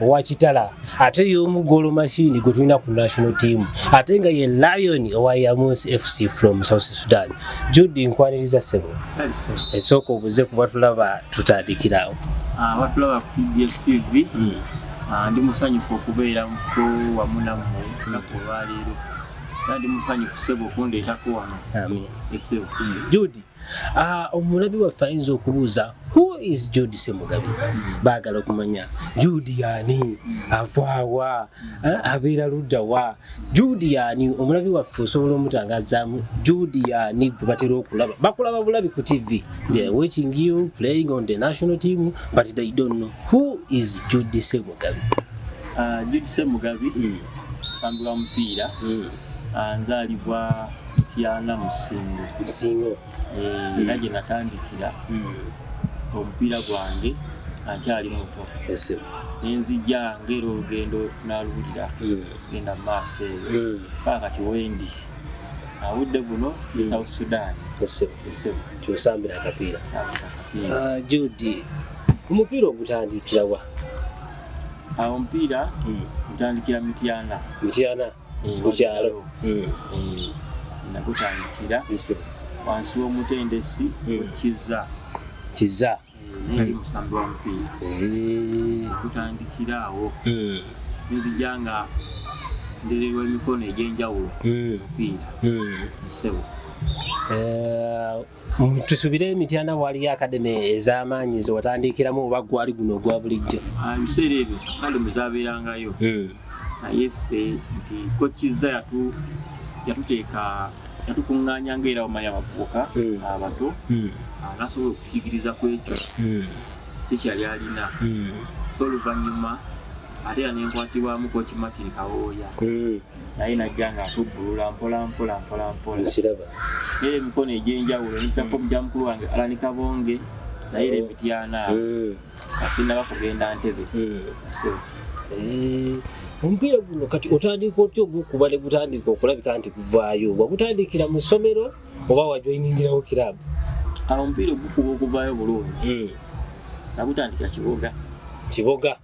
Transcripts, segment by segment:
owa kitala ate y'omu golo machine gwe tulina ku national team ate nga ye lion owa yamus fc from south sudan judi nkwaniriza sebo esooka obuze kuba tulaba tutandikirawo ah, batulaba ku pbs tv hmm. ah, ndi musanyufu okubeera muko wamu nammwe naku olwaleero ndi musanyufu sebo okundeetako wano esebo hmm. judi Ah, omulabi waffe ayinza okubuuza who is jude semugabi baagala okumanya jude yaani avaawa ah, abeera ludda wa jude yaani omulabi waffe osobola omutangazaamu jude yaani gwe batera okulaba bakulaba bulabi ku tv they are watching you playing on the national team but they don't know who is jude semugabi ah, jude semugabi mm. tambula mupiira mm. Ah, nzaalibwa mutyana mu ssingo ssingo eh, era gye natandikira hmm. omupiira gwange ankyali muto nenzija ngaera olugendo naluwulira hmm. genda mu maaso eyo hmm. paa kati wendi awudde guno e south sudan kyosambira akapiira ah, judi omupiira ogutandikirawa ah, omupiira gutandikira mityana mityana ku kyalo nakutandikira wansi w'omutendesi kiza kiza neri musambi wa mupiira nakutandikira awo nzija nga ndererwa emikono egy'enjawulo mupiira nsebo tusubire emityana waaliyo akademe ez'amaanyi zewatandiikiramu oba gwali guno ogwa bulijjo ah, ebiseera ebyo akademe zabeerangayo hmm. naye ffe nti kokiza yatuteeka yatukuŋŋaanya ngaera omanya abavubuka hmm. abato hmm. ah, nasobola okutuyigiriza ku ekyo sikyali alina so oluvannyuma ate era nenkwatibwamu kokimatiri kawooya naye najja nga atubbulula mpolampola mpolampola nkiraba era emikono egy'enjawulo nitako mm. mukya mukulu wange alani kabonge naye era oh. emityana mm. asinaba kugenda ntebe mm. eh, omupiira guno kati otandika otya ogwokuba ne gutandika okulabika nti guvaayo wagutandikira mu ssomero oba wajoiningirawo kirabu awo omupiira ogukuba okuvaayo bulungi nagutandika kiboga kiboga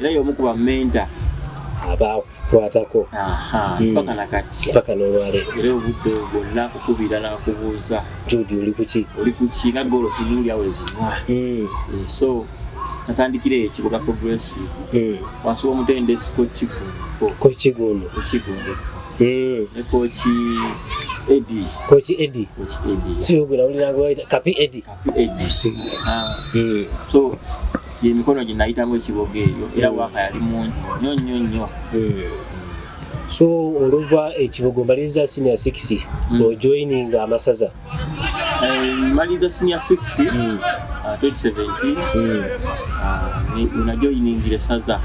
era yomu kuba menta abakwatako hmm. paka nakati paka nolwaleero era obudde bwonna kukubira nakubuuza judi oli kuki oli kuki nga golo sinuuli awo ezinwa hmm. eh, so natandikira eyo kibuga progressive hmm. wansi womutendesi kokigundo kokigundo kokigundo ne koki edi koki edi koki edi siyogera ulinagwaita kapi edi emikono gye nayitamu ekiboga eyo era hmm. waaka yali mungi nyo nyo nyo hmm. so oluva ekibogo mbaliriza senior 6 hmm. ojoininga amasaza eh, mbaliriza senior 6 2017 najoyiningira esaza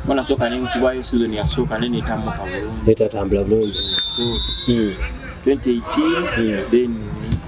bona hmm. soka nenkubwayo sizoni yasooka naye netambuka bulungi netatambula bulungi 2018 hmm. hmm. then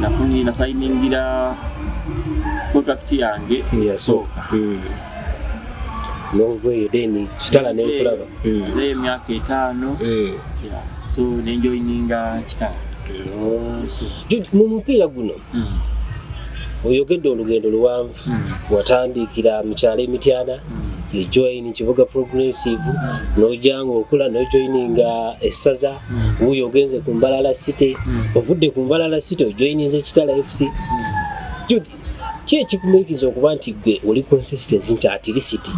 nafunye nasayiningira contract yange yasooka hmm. nova eyo then kitala nenkulaba hmm. naye emyaka etaano hmm. so nenjoyininga kitala oh. mu mupiira guno oyogedde olugendo luwanvu watandiikira mu kyalo emityana you join kibuga progressive n'ojja ng'okula n'ojoininga essaza wuuyo ogenze ku mbalala city ovudde ku mbalala city ojoininze kitala fc judi ki ekikumirikiza okuba nti gwe oli consistency nti atirisiti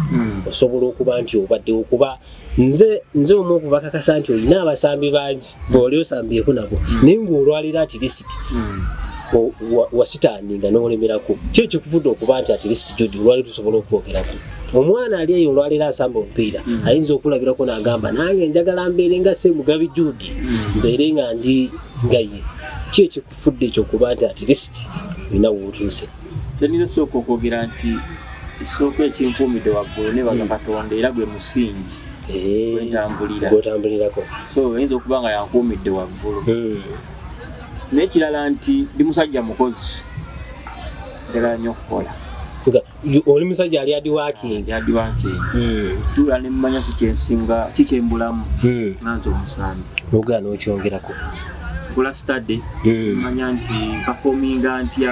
osobola okuba nti obaddewo kuba nze nze omu okubakakasa nti olina abasambi bangi bwoli osambyeko nabo hmm. naye ngaolwalira ati lisiti hmm. wasitaani nga nolemerako ki ekikuvude okuba nti ati lisiti judi olwali tusobola okwogerako omwana ali eyo olwaliro asamba omupiira hmm. ayinza okulabirako nagamba nange njagala mbeere nga se mugabi judi mbeere nga ndi nga ye ki ekikufudde ekyokuba nti ati lisiti olina wootuuse Kyendize sooka okwogera nti ekisooka ekinkuumidde waggulu nebaga hmm. katonda era gwe musingi eh, gwentambuliragwetambulirako so oyinza okuba nga yankuumidde waggulu hmm. n'ekirala nti ndi musajja mukozi ddala nnyo okukola oli musajja ali adiwakingiadiwakingi hmm. tula nemmanya si kyensinga ki kyembulamu nga nti omusambi nogaa n'okyongerako kula stade manya nti pafominga ntya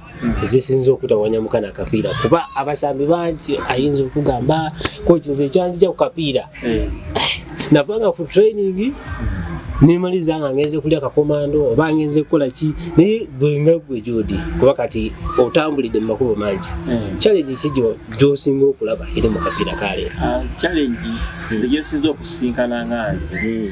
ezisinza okutawanya mukana kapiira kuba abasambi bangi ayinza okugamba kokinze ekyazija ku kapiira eh. navanga ku training nemaliza nga ngenze kulya kakomando oba ngenze kukola ki naye gwenga gwe jodi kuba kati otambulidde mu makubo mangi eh. challenge ki gyosinga okulaba eri mu kapiira kaleero ah, challenge hmm. gyesinza okusinkana nga nze hmm.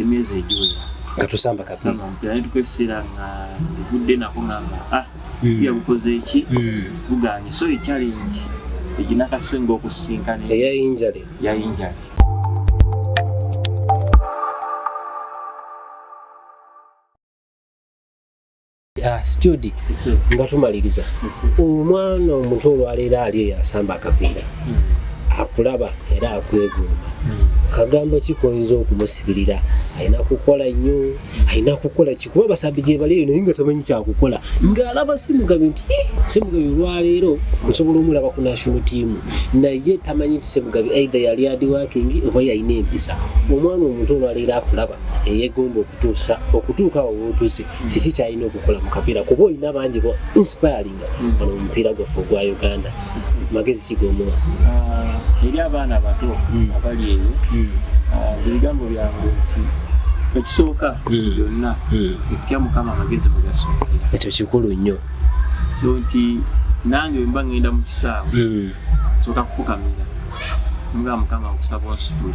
emyezi egiwera nga tusamba kapiira tukwesera nga evudde nako ngamba ah hmm. pia bukoze eki hmm. buganye so echallenge eginakaswenga okusisinkana eyayinjale yayinjale Ah, studi nga tumaliriza omwana omuto olwaleero ali eyo asamba akapiira hmm. akulaba era akwegomba hmm. kagambo ki koyinza okumusibirira alina kukola nnyo hmm. alina kukola ki kuba basambi gyebaliyo naye nga tamanyi kyakukola ng'alaba simugabi nti eh, simugabi olwaleero osobola omulaba ku national team naye tamanyi nti simugabi aidha yali adiwakingi oba yalina empisa omwana omuto olwaleero akulaba eyegomba okutuusa okutuuka awo wotuuse mm. kiki kyalina okukola mu kapiira kuba olina bangi bo inspiringa mm. ono omupiira gwaffe ogwa uganda magezi kigomuwa ah, eri abaana abato mm. abali eyo ah, ebigambo byange nti ekisooka byonna ekutya mukama amagezi bwegasookera ekyo kikulu nnyo so nti nange wemba ngenda mu kisaawe sooka kufukamira nga mukama nkusaba onsitule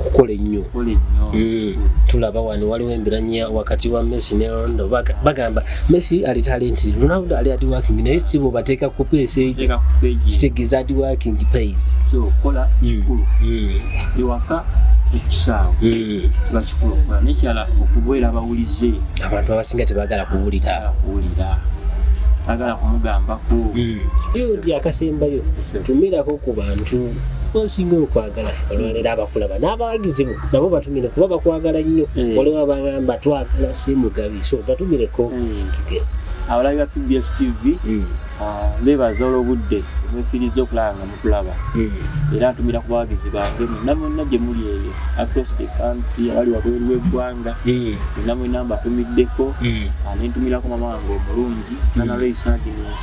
okukola ennyo mm. tulaba wano waliwo embiranya wakati wa messi ne rondo bagamba messi ali talenti ronaldo ali adi working naye si bwebateeka ku peesa eyo kitegeeza adi working pays ekisaawe kiba kikulu okukola nekyala okubeera abawulize abantu abasinga tebagala kuwulira kuwulira agala kumugambako hmm. yodi akasembayo tumirako ku bantu osinga okwagala olwaleero abakulaba n'abawagizi bo nabo batumire kuba bakwagala nnyo mm. waliwo abagamba twagala semugabi so batumireko mm. abalabi ba pbs tv mm. ah, bebaza olwobudde mwefiiriza okulaba nga mutulaba era ntumira ku bawagizi bange mwenna mwenna gye muli eyo across the country abali wabweru w'eggwanga mwenna mwenna mbatumiddeko ah, nentumirako mama wange omulungi nanalweisagins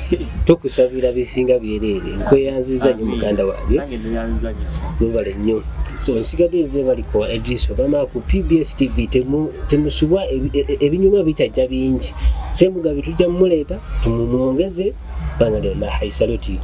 tukusabira bisinga byereere nkweyanziza nyo muganda wange webale nnyo so nsigadde ze bali ku adress obama ku pbs tv temusubwa e, e, e, ebinyuma bikyajja bingi semugabi tujja mumuleeta tumumwongeze banga lyonna haisaloti